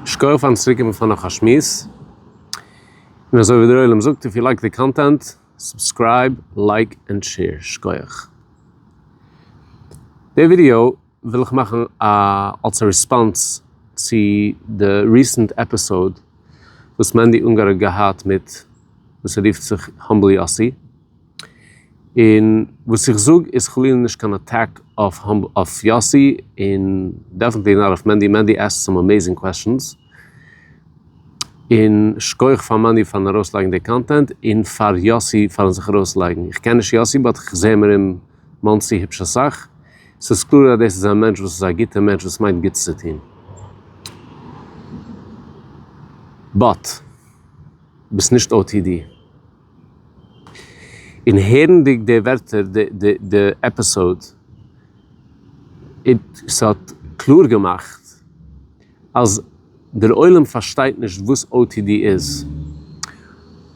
שקויעך פארן צוריק קומען פאר נאך א שמועס, און אזוי ווי דער עולם זאגט איף יו לייק די קאנטענט סובסקרייב לייק ענד שעיר שקויעך. די ווידיאו וויל איך מאכן א אלס א ריספאנס צו די ריסענט עפיסאוד וואס מענדי אונגאר האט געהאט מיט וואס ער רופט זיך האמבל יאסי, און וואס איך זאג איז חלילה נישט קיין אטעק אויף יאסי און דעפענטלי נאט אויף מענדי, מענדי עסקט סאם אמעזינג קוועשאנס, און שכח פאר מענדי פארן ארויסלייגן די קאנטענט און פאר יאסי פארן זיך ארויסלייגן, איך קען נישט יאסי באט איך זעה מיר אין מאנסי היפש אסאך, ס'איז קלאר אז דאס איז א מענטש וואס איז א גוטע מענטש וואס מיינט גוטס צו טון. באט ביסט נישט או טי די. און הערנדיג די ווערטער די עפיסאוד איד ס'האט קלאר געמאכט אז דער עולם פארשטייט נישט וואס otd איז.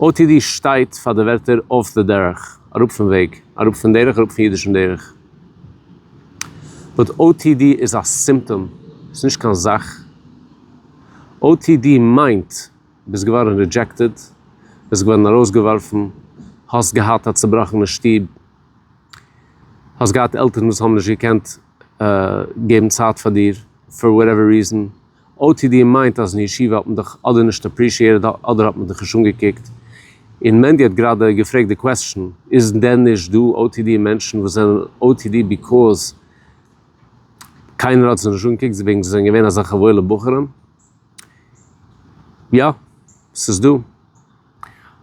otd שטייט פאר די ווערטער off the דרך, אראפ פון וועג, אראפ פון דרך, אראפ פון אידישן דרך. באט otd איז א סימפטאם, ס'איז נישט קיין זאך. otd מיינט. ביסט געווארן רידזשעקטעד, ביסט געווארן ארויסגעווארפן, האסט געהאט א צובראכענע שטוב, האסט געהאט עלטערן וואס האבן נישט געקענט געבן צייט פאר דיר פאר וואטעווער ריזען, otd מיינט אז אין ישיבה האט מען דיך אדער נישט אפרישיעטעד אדער האט מען דיך נישט אנגעקוקט, און מענדי האט גראדע געפרעגט די קוועסטשן, איז דען נישט דא otd מענטשן וואס זענען otd ביקאוז קיינער האט זיי נישט אנגעקוקט וועגן זיי זענען געווען אזעלכע וואוילע בחורים? יא, ס'איז דא.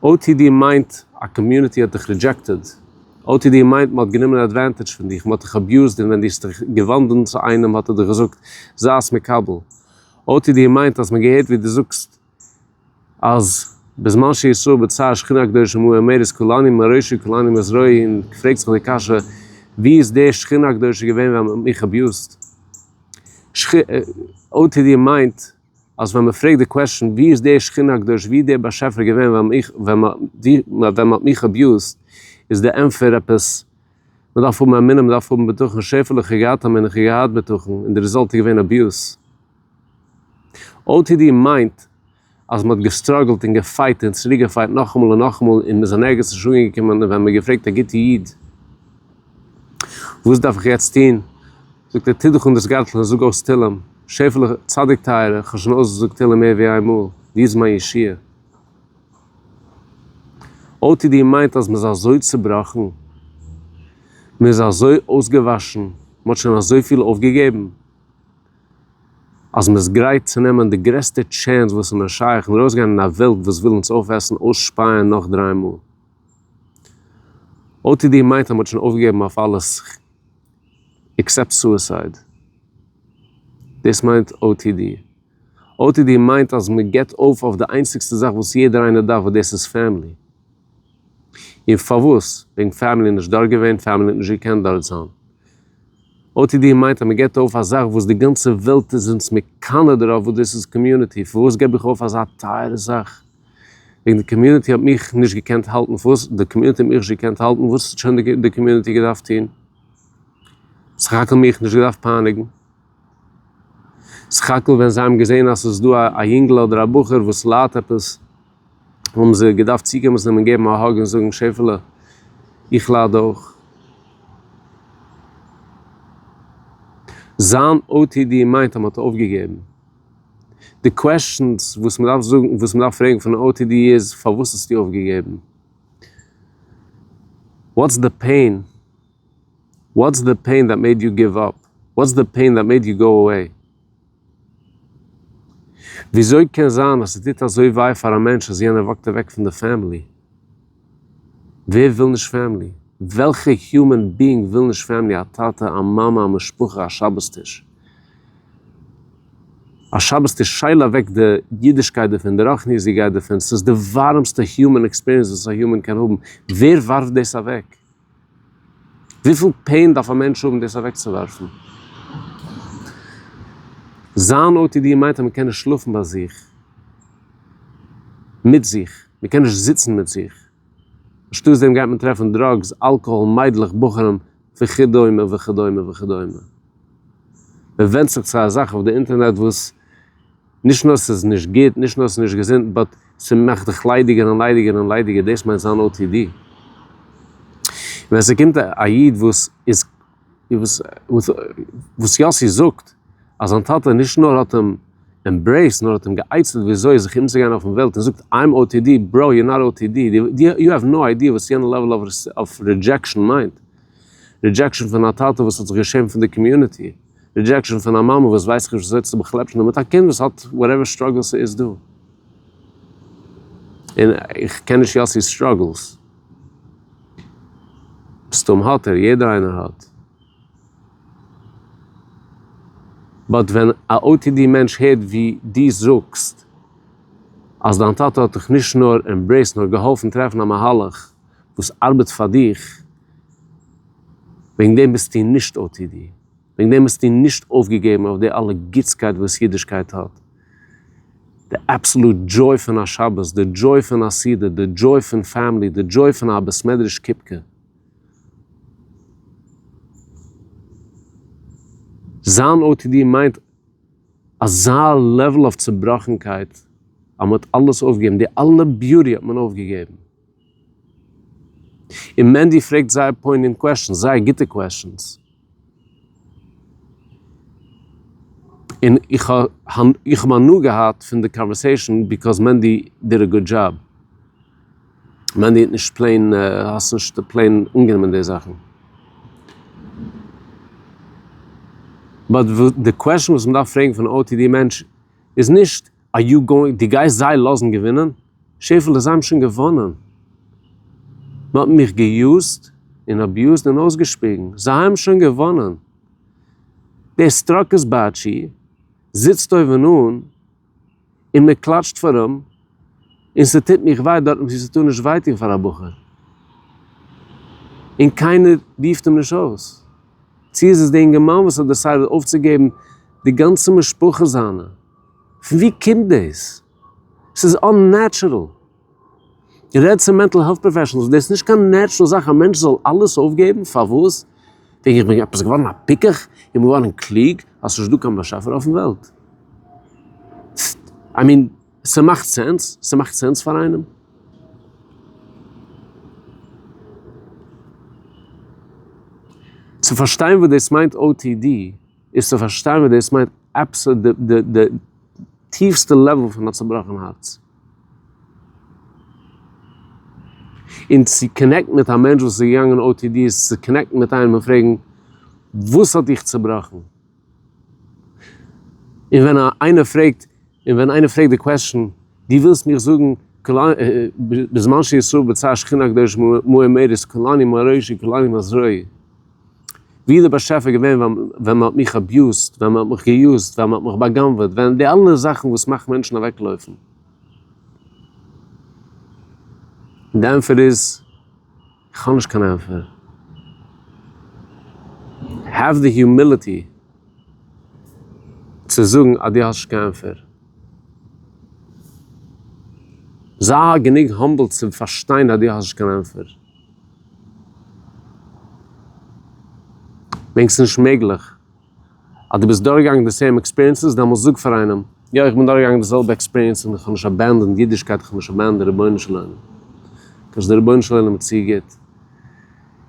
otd מיינט א קאמיוניטי האט דיך רידזשעקטעד. otd מיינט מ'האט גענומען עדווענטעדזש פון דיך, מ'האט דיך אביוזד און ווען דו האסט דיך געוואנדן צו איינעם האט ער דיך געזאגט זיי'ס מקבל. otd מיינט אז מ'האט געהערט ווי דו זאגסט. אז בזמן שישראל בצר שכינה הקדושה עמו אמר איז כולני מראשי כולני מזרעי און געפרעגט זיך די קשיא ווי איז די שכינה הקדושה געווען ווען מ'האט מיך אביוזט? או טי די מיינט אז ווען מ'פרעגט די קוועשאן ווי איז די שכינה הקדושה ווי איז די באשעפער געווען ווען מיך ווען מ'האט מיך אביוזט איז די ענפער עפעס מ'דארף האבן אמונה מ'דארף האבן בטחון שפע לכי געהאט אמונה כ'געהאט בטחון און די ריזאלט איז געווען אביוז. otd מיינט אז מען האט געסטראגלט און געפייט און צוריק געפייט נאכאמאל און נאכאמאל און מיר זענען ערגעץ נישט אנגעקומען און ווען מען געפרעגט א גוטע איד וואס דארף איך יעצט טון זאגט ער טו דיך אן דאס גארטל און זאג אויס תהלים שעפעלע צדיק טייערע איך האב שוין אויסגעזאגט תהלים מער ווי איין מאל דו איז מיין ישועה otd מיינט אז מען איז אזוי צובראכן מען איז אזוי אויסגעוואשן מען האט שוין אזויפיל אויפגעגעבן. אז מען איז גרייט צו נעמען די גרעסטע טשענס וואס איז נאר שייך און ארויסגיין אין א וועלט וואס וויל אונז אויפעסן, אויסשפייען נאך דריי מאל. או טי די מיינט אז מען האט שוין אויפגעגעבן אויף אלעס עקסעפט סועסייד. דאס מיינט או טי די. או טי די מיינט אז מען גיבט אויף אויף די איינציגסטע זאך וואס יעדער איינער דארף וואס דאס איז פעמילי. און פארוואס? וועגן פעמילי איז נישט דארט געווען, פעמילי האט נישט געקענט דארט זיין. otd מיינט אז מ'געבט אויף א זאך וואס די גאנצע וועלט איז אונז מקנא דערויף וואס דאס איז קאמיוניטי, פארוואס געב איך אויף אזא טייערע זאך? וועגן די קאמיוניטי האט מיך נישט געקענט האלטן, פארוואס? די קאמיוניטי האט מיך נישט געקענט האלטן, וואס האט שוין די קאמיוניטי געדארפט טון? סך הכל מיך נישט געדארפט פייניגן, סך הכל ווען זיי האבן געזען אז ס'איז דא א יונגל אדער א בחור וואס ליידט עפעס, האבן זיי געדארפט צוקומען צו אים און געבן א האג און זאגן שעפעלע איך לייד אויך. זיין או טי די מיינט אז מען האט אויפגעגעבן. די קוועסטשענס וואס מען דארף זאגן וואס מען דארף פרעגן פון א או טי די איז פארוואס האסטו אויפגעגעבן? וואטס די פעין? וואטס די פעין דעט מעיד יו גיוו אפ? וואטס די פעין דעט מעיד יו גאו עוועי? וויאזוי קען זיין אז ס'טוט אזוי וויי פאר א מענטש אז יענער וואקט אוועק פון די פעמילי? ווער וויל נישט פעמילי? וועלכע היומען ביאינג וויל נישט פעמילי? א טאטע, א מאמע, א משפחה, א שבת טיש. א שבת טיש שייל אוועק די אידישקייט דערפון, די רחניות'דיגייט דערפון, ס'איז די ווארעמסטע היומען עקספיריענס וואס א היומען קען האבן, ווער ווארפט דאס אוועק? וויפיל פעין דארף א מענטש האבן דאס אוועקצואווארפן? זיין או טי די מיינט אז מען קען נישט שלאפן ביי זיך, מיט זיך, מען קען נישט זיצן מיט זיך, אנשטאט דעם גייט מען טרעפן דראגס, אלקאהאל, מיידלעך, בחורים, וכדומה וכדומה וכדומה. מען ווענדט זיך צו א זאך אויף די אינטערנעט וואס. נישט נאר ס'איז נישט גוט, נישט נאר ס'איז נישט געזונט, באט ס'מאכט דיך ליידיגער און ליידיגער און ליידיגער, דאס מיינט זיין או טי די. ווען ס'קומט א איד וואס איז, וואס וואס יאסי זאגט אז זיין טאטע נישט נאר האט אים עמברעיסד נאר האט אים גע'עצה'ט וויאזוי זיך אומצוגיין אויפן וועלט און זאגט איים או טי די, בראו יור נאט או טי די, יו העוו נאו איידיע וואס יענע לעוול אוו רידזשעקשאן מיינט, רידזשעקשאן פון א טאטע וואס האט זיך געשעמט פון די קאמיוניטי. רידזשעקשאן פון א מאמע וואס ווייסט נישט וויאזוי צו באכלעפשענען מיט א קינד וואס האט וואטעווער סטראגעלס ס'איז דא. און איך קען נישט יאסי'ס סטראגעלס. מסתם האט ער, יעדער איינער האט. באט ווען א otd מענטש הערט ווי דו זאגסט אז דיין טאטע האט דיך נישט נאר עמברעיסט נאר געהאלפן טרעפן א מהלך וואס ארבעט פאר דיך וועגן דעם ביסטו נישט או טי די? וועגן דעם ביסטו נישט אויפגעגעבן אויף די אלע גוטסקייט וואס אידישקייט האט? די אבסעלוט דזשוי פון א שבת, די דזשוי פון א סעודה, די דזשוי פון פעמילי, די דזשוי פון א בית מדרש קופקע. זיין או טי די מיינט אזא לעוול אויף צובראכנקייט אז מען האט אלעס אויפגעגעבן, די אלע ביוטי האט מען אויפגעגעבן. און מענדי פרעגט זייער פוינענד קוועשאנס, זייער גוטע קוועשאנס. און איך האב הנאה געהאט פון די קאנווערסעישאן ביקאוז מענדי דיד א גוד דזשאב. מענדי האט נישט פלעין, האסט נישט פלעין אנגענומען די זאכן. באט די קוועשאן וואס מען דארף פרעגן פון א או טי די מענטש איז נישט. אר יו גאוינג, דו גייסט זיי לאזן געווינען? שעפעלע, זיי האבן שוין געוואנען. מען האט מיך געיוזט און אביוזד און אויסגעשפיגן. זיי האבן שוין געוואנען. דער סטראקעס באטשי זיצט אויבן אן און מען קלאטשט פאר אים, און ס'טוט מיך וויי דארטן וואו ס'טאר נישט וויי טון פאר א בחור. און קיינער רופט אים נישט אויס. צו איז עס דער אינגערמאן וואס האט דעסיידעד אויפצוגעבן די גאנצע משפחה זיינע? פון ווי קומט דאס? ס'איז אננעטשורעל. רעד צו מענטל העלט פראפעשענעלס, דאס איז נישט קיין נעטשורעל זאך א מענטש זאל אלעס אויפגעבן, פארוואס? וועגן איך בין עפעס געווארן א פיקח? איך בין געווארן קלוג? אז ס'איז נישט דא קיין באשעפער אויפן וועלט? איי מין, ס'מאכט סענס? ס'מאכט סענס פאר איינעם? צו פארשטיין וואס דאס מיינט או טי די איז צו פארשטיין וואס דאס מיינט אבסערט די די טיפסטע לעוועל פון א צובראכן הארץ. און צו קאנעקטן מיט א מענטש וואס איז געגאנגען או טי די איז צו קאנעקטן מיט איינעם און פרעגן וואס האט דיך צובראכן? און ווען איינער פרעגט, און ווען איינער פרעגט די קוועסטשן, דו ווילסט מיך זאגן בזמן שישראל בצר שכינה הקדוש מאה מאיר איז כולני מערישי כולני מזרעי? ווי איז דער באשעפער געווען ווען מען האט מיך אביוזט, ווען מען האט מיך געיוזט, ווען מען האט מיך באגנב'עט, ווען די אלע זאכן וואס מאכט מענטשן אוועקלויפן? און די ענטפער איז, איך האב נישט קיין ענטפער. העוו די היומיליטי צו זאגן אז דו האסט נישט קיין ענטפער. זיי גענוג האמבל צו פארשטיין אז דו האסט נישט קיין ענטפער. דענקסט נישט מעגליך אז דו ביסט דורכגעגאנגען די סעים עקספיריענסעס? דעמאלטס זאג פאר איינעם, יא איך בין דורכגעגאנגען די זעלבע עקספיריענס און איך האב נישט עבענדענד אידישקייט, איך האב נישט עבענדענד די רבונו של עולם, כאטש די רבונו של עולם איז צו גוט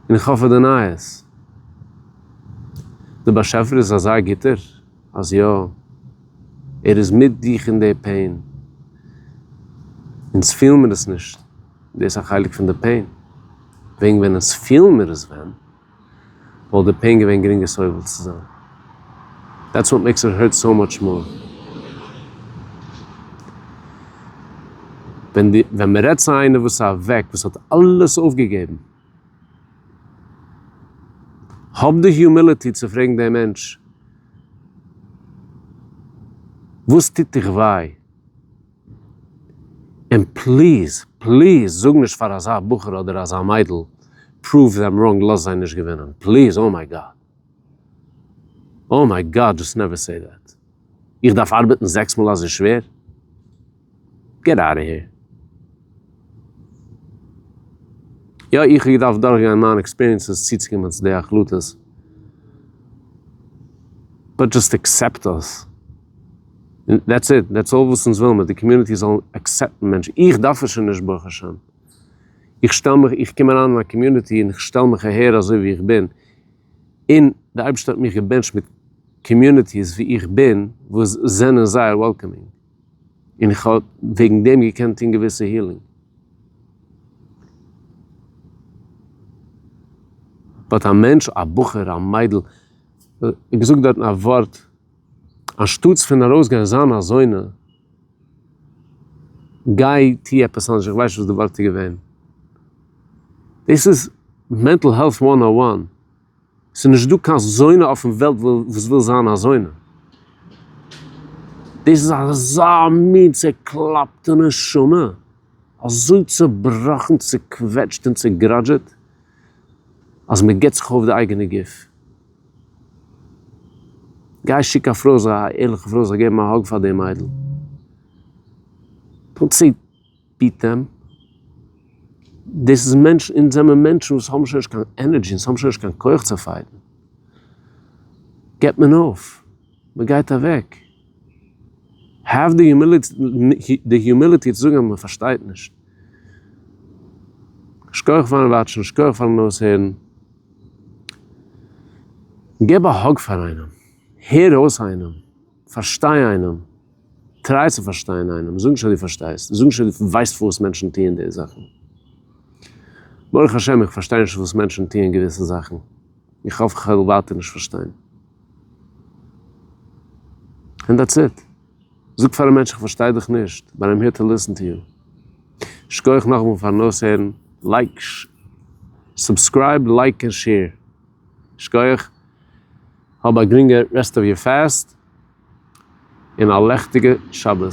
און איך האף ער דענייעס. די באשעפער איז אזא גוטער אז יא, ער איז מיט דיך אין די פעין, אונז פילן מיר עס נישט. דאס איז א חלק פון די פעין. וועגן ווען עס פילן מיר עס ווען, וואלט די פעין געווען גרינגער סובל צו זיין. דעטס וואט מעקס איט הערט סאו מאטש מאר. ווען מען רעדט צו איינער וואס איז אוועק, וואס האט אלעס אויפגעגעבן, האב די היומיליטי צו פרעגן דעם מענטש, וואס טוט דיך וויי? און פליז פליז זאג נישט פאר אזא בחור אדער אזא מיידל פרואוו דעם ראנג לאז זיי נישט געווינען פליז אוי מיי גאד אוי מיי גאד דזשאסט נעווער סעי דעט איך דארף ארבעטן זעקס מאל אזוי שווער געט אוט אוו העיר יא איך האב געדארפט דורך גיין מיינע עקספיריענסעס צי צו קומען צו די החלטות באט דזשאסט עקסעפט עס. און דעטס איט, דעטס אלל וואס אונז ווילמער, די קאמיוניטי זאל עקסעפטן מענטשן, איך דארף עס שוין נישט ברוך השם, איך שטעל מיך, איך קום אריין אין א קאמיוניטי און איך שטעל מיך אהער אזוי ווי איך בין, און די אייבערשטער האט מיך געבענטשט מיט קאמיוניטיס ווי איך בין וואס זענען זייער וועלקאמינג, און איך האב וועגן דעם געקענט טון געוויסע הילינג. באט א מענטש, א בחור, א מיידל, געזאגט דארטן א ווארט, אנשטאטס פון ארויסגיין זיין אזוינע, גיי טוה עפעס אנדערש, איך ווייס נישט וואס די ווארט איז געווען. דאס איז מענטל העלט וואן און וואן. עס איז נישט דא קיין זונה אויפן וועלט וואס וויל זיין א זונה. דאס איז אזא מין צוקלאפטע נשמה, אזוי צובראכן, צוקוועטשט און צוגראדזשעט, אז מען געבט זיך אויף די אייגענע גוף. גיי שיק א פרוי, זיי א ערליכע פרוי, זאל געבן א האג פאר די מיידל, טאן צו פוטעם, דאס איז מענטשן, אונז זעמער מענטשן וואס האבן שוין נישט קיין ענערדזשי, אונז האבן שוין נישט קיין כח צו פייטן, געבט מען אויף, מען גייט אוועק. האב די היומיליטי צו זאגן אז מען פארשטייט נישט. שכוח פארן וואטשן, שכוח פארן אויסהערן. געב א האג פאר איינעם, הער אויס איינעם, פארשטיי איינעם, טריי צו פארשטיין איינעם, זאג נישט אז דו פארשטייסט, זאג נישט אז דו ווייסט פארוואס מענטשן טוען די זאכן. ברוך השם איך פארשטיי נישט פארוואס מענטשן טוען געוויסע זאכן, איך האף איך וועל ווייטער נישט פארשטיין. ענד דעטס איט. זאג פאר א מענטש איך פארשטיי דיך נישט, באט איים העיר טו ליסן טו יו. שקויעך נאכמאל פארן אויסהערן. לייק, סובסקרייב, לייק און שעיר. שקויעך. האב א גרינגע רעסט אוו יור פאסט און א לעכטיגע שבת.